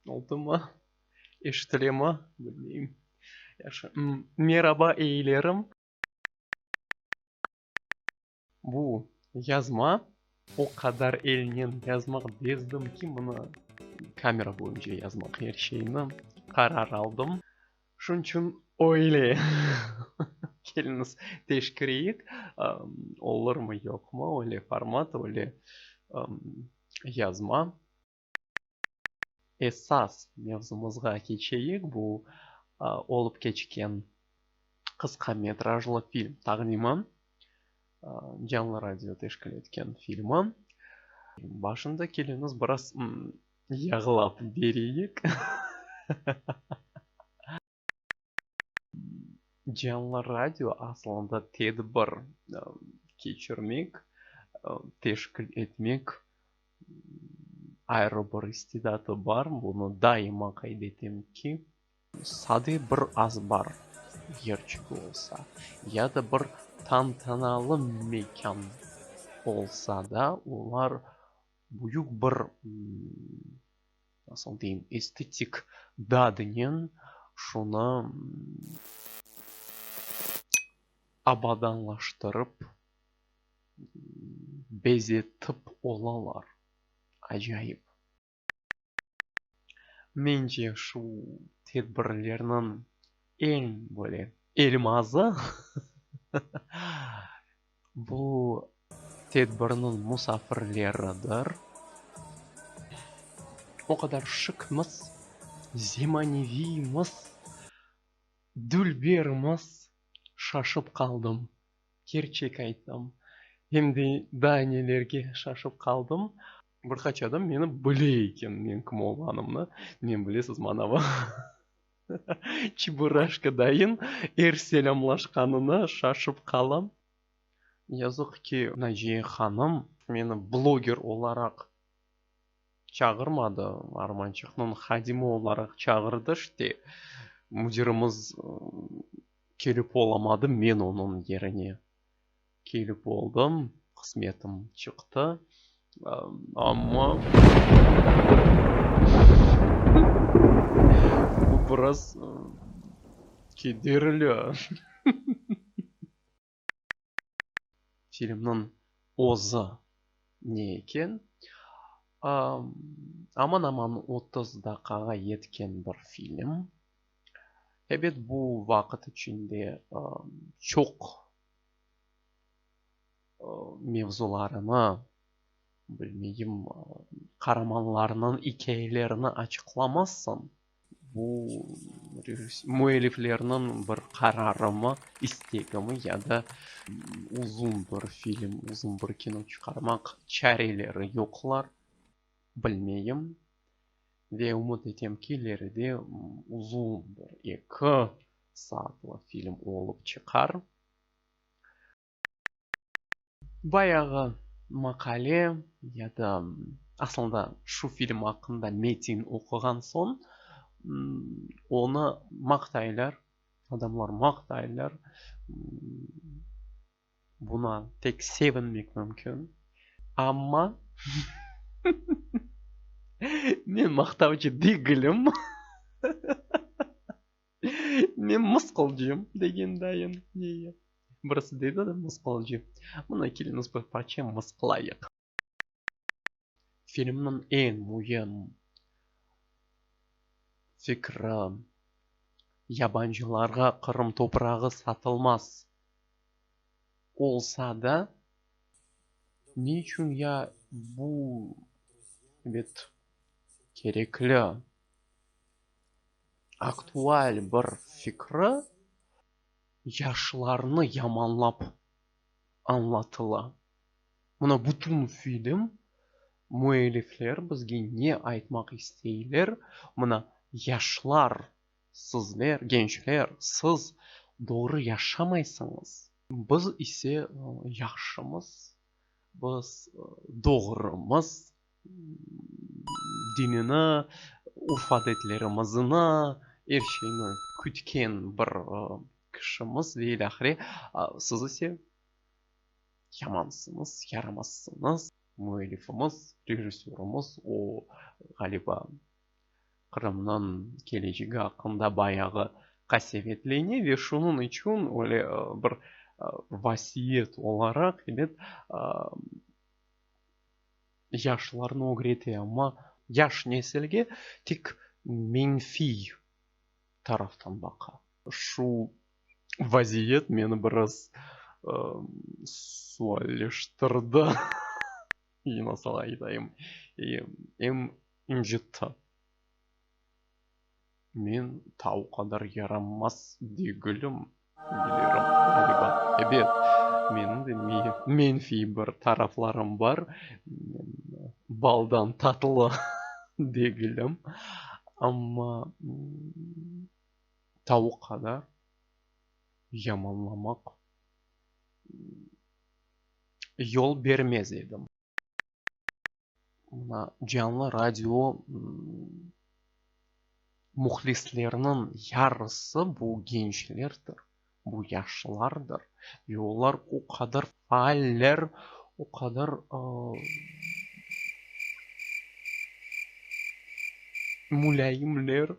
Oldumı? Eşitilemı? Bilmeyim. Yaxşı. Meraba eyilerim. Bu yazma o qadar elnen yazmaq bezdim ki, mına kamera boyunca yazmaq er şeyni qarar aldım. Şunıñ içün öyle keliñiz teşkireyik, olurmı, yoqmı, öyle format, öyle yazma. Esas mevzumızğa keçeyik, bu olıp keçken qısqa metrajlı film taqdimi, Canlı radio teşkil etken filmi. Başında keliñiz biraz Yağlap bereyik. Canlı radio aslında tedbir keçirmek, teşkil etmek ayrı bir istidatı bar. Bunı daima qayd etem ki, sade bir azbar yerçiği olsa ya da bir tantanalı mekân olsa da, olar Büyük bir, nasıl deyim, estetik dadınen şunı abadanlaştırıp, bezetip olalar. Acayip. Mence, şu tedbirlerniñ eñ böyle elmazı, bu tedbirniñ musafirleridir. O qadar şıkmız, zemaneviymız, dülbermiz, şaşıp qaldım, kerçek aytam. Endi daa nelerge şaşıp qaldım. Bir qaç adam meni bile eken, menim kim olğanımnı. Nen bilesiz, manavi çeburashka dayın er selâmlaşqanına şaşıp qalam. Yazıq ki, Naciye hanım meni bloger olaraq çağırmadı, armançıqnıñ hadimi olaraq çağırdı, işte, müdirimiz kelip olamadı, men onıñ yerine. Kelip oldım, qısmetim çıqtı, amma bu biraz kederli. Filmniñ özü ne eken? Aman-aman otuz daqağa yetken bir film. Ebet, bu vaqıt içinde çoq mevzularını, bilmeyim, qaramanlarnıñ ikâyelerini açıqlamazsan, bu müelliflerniñ bir qararımı, istegimi ya da uzun bir film, uzun bir kino çıqarmaq çareleri yoqlar, bilmeyim. Ve ümüt etem ki, ileride uzun, eki, saatlı film olıp çıqar. Bayağı maqale ya da aslında şu film aqqında metin oquğan soñ onı maqtaylar, adamlar maqtaylar, buna tek sevinmek mümkün. Amma men maqtavcı degilim. Men mısqılcıyım, degen dayım. Nege? Birisi dedi de, mısqılcı. Mına, keliñiz, bir parça mısqılayıq. Filmniñ eñ müim fikri, yabancılarğa Qırım toprağı satılmaz. Olsa da, ne içün ya bu, ebet, kerekli? aktual bir fikri yaşlarnı yamanlap añlatıla. Mına bütün film müellifler bizge ne aytmaq isteyler, mına yaşlar, sizler, gençler, siz doğru yaşamaysıñız. Biz ise yahşımız, biz doğrumız. dinini, urf-adetlerimizini, er şeyni kütken bir kişimiz ve ilâhre, siz ise yamansıñız, yaramazsıñız. Müellifimiz, rejissörımız o, ğaliba, Qırımnıñ kelecegi aqqında bayağı qasevetlene ve şunıñ içün öyle bir vasiyet olaraq, ebet, yaşlarnı ögrete, amma yaş nesilge tek menfiy taraftan baqa. Şu vaziyet meni biraz sualleştirdi, nasıl aytayım, em incitti. Men ta o qadar yaramaz degilim, bilirim, ğaliba. Ebet, menim de menfiy bir taraflarım bar, men baldan tatlı degilim, amma ta o qadar yamanlamaq yol bermez edim. Mına canlı radio mühlisleriniñ yarısı bu gençlerdir, bu yaşlılardır ve olar o qadar faaller, o qadar mulâyimler,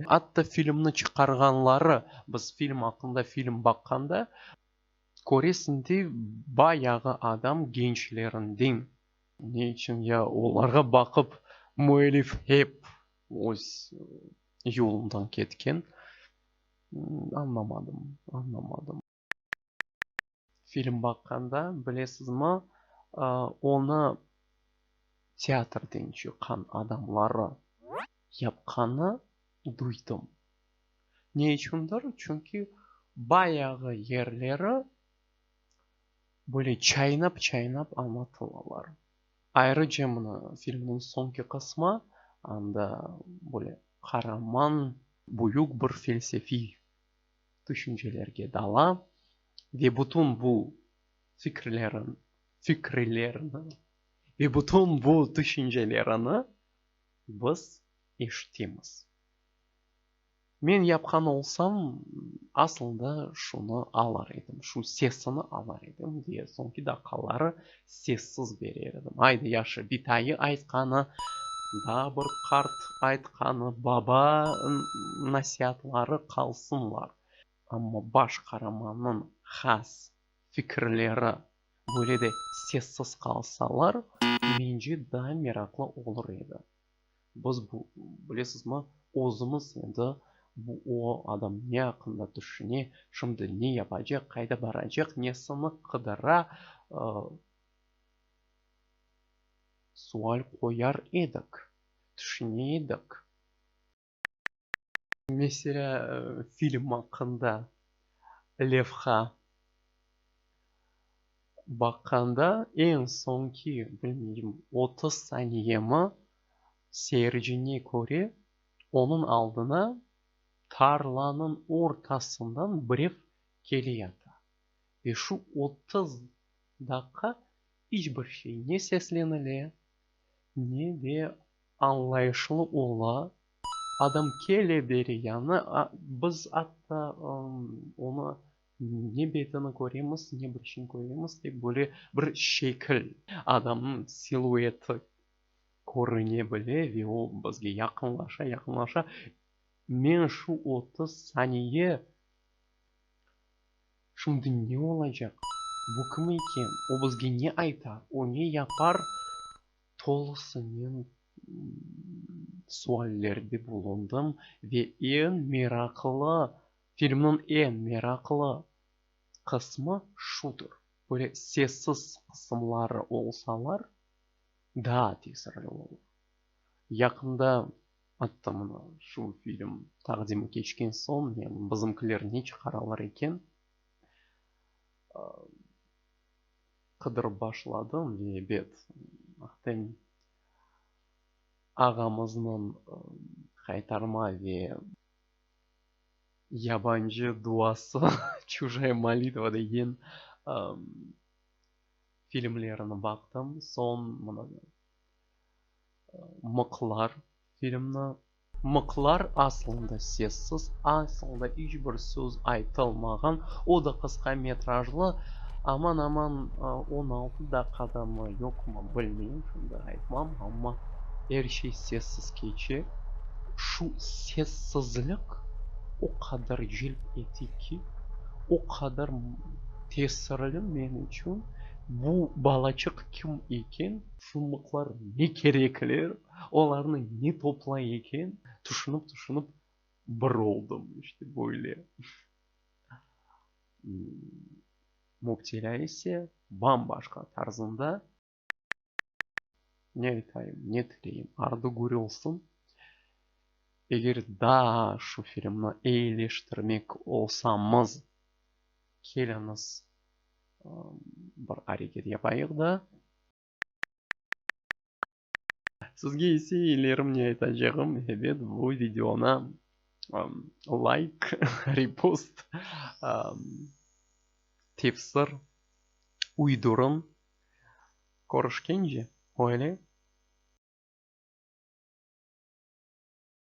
atta filmni çıqarğanları, biz film aqqında film baqqanda. Köresiñ de, bayağı adam gençlerinden. Ne içün ya? Olarğa baqıp, müellif hep öz yolundan ketken. Añlamadım, añlamadım. Film baqqanda, bilesizmi, onı teatrden çıqqan adamları yapqanı duydım. Ne içündir? Çünki bayağı yerleri böyle çaynap-çaynap añlatılalar. Ayrıca mına filmniñ soñki qısmı, anda böyle qaraman büyük bir felsefiy tüşüncelerge dala ve bütün bu fikirlerin, fikrilerini ve bütün bu tüşüncelerini biz eşitemiz. Men yapqan olsam, asılda şunı alar edim, şu sesini alar edim, diye soñki daqaları sessiz berer edim. Ayda yaşı bitayı aytqanı, daa bir qart aytqanı, baba nasiatları qalsınlar, amma baş qaramannıñ has fikirleri böyle de sessiz qalsalar, mence daa meraqlı olur edi. Biz bu, bilesizmi, özümiz endi bu o adam ne aqqında tüşüne, şimdi ne yapacaq, qayda baracaq, nesini qıdıra, sual qoyar edik, tüşüne edik. Meselâ, film aqqında levha baqqanda, eñ soñki, bilmeyim, otuz saniyemi seyircine köre, onıñ aldına tarlanıñ ortasından birev kele yata. Ve şu otuz daqqa iç bir şey, ne seslenile, ne de añlayışlı ola, adam kele beri yañı, biz atta onı ne betini köremiz, ne başını köremiz, tek böyle bir şekil, adamnıñ silueti körüne bile ve o bizge yaqınlaşa, yaqınlaşa. Men şu otuz saniye Şimdi ne olacaq? Bu kim eken? O bizge ne aytar? O ne yapar? Tolusınen suallerde bulundım ve eñ meraqlı, filmniñ eñ meraqlı qısmı şudır, böyle sessiz qısımları olsalar, daa tesirli olur. Yaqında Atta mına şu film taqdimi keçken soñ, yani bizimkiler ne çıqaralar eken, qıdırıp başladım ve ebet, ahtem ağamıznıñ Qaytarma ve Yabancı duası, Çujaya molitva, degen filmlerini baqtım. Soñ mına. Mıqlar filmni. Mıqlar aslında sessiz, aslında iç bir söz aytılmağan, o da qısqa metrajlı, aman-aman on altı daqqadamı, yoqmı, bilmeyim, şimdi aytmam, amma er şey sessiz keçe. Şu sessizlik o qadar celp ete ki, o qadar tesirli men içün, bu balaçıq kim eken, Şumlıqlar ne kerekler, olarnı ne toplay eken, tüşünip-tüşünip bir oldım, işte böyle. Müptelâ ise bam-başqa tarzında. Ne aytayım, ne tileyim, ardı körülsin. Eger daa şu filmni eyileştirmek olsamız, keliñiz, bir areket yapayıq da. Sizge ise ilerim ne aytacağım, ebet, bu videona layk, repost, tefsir, uydurum. Körüşkence, öyle.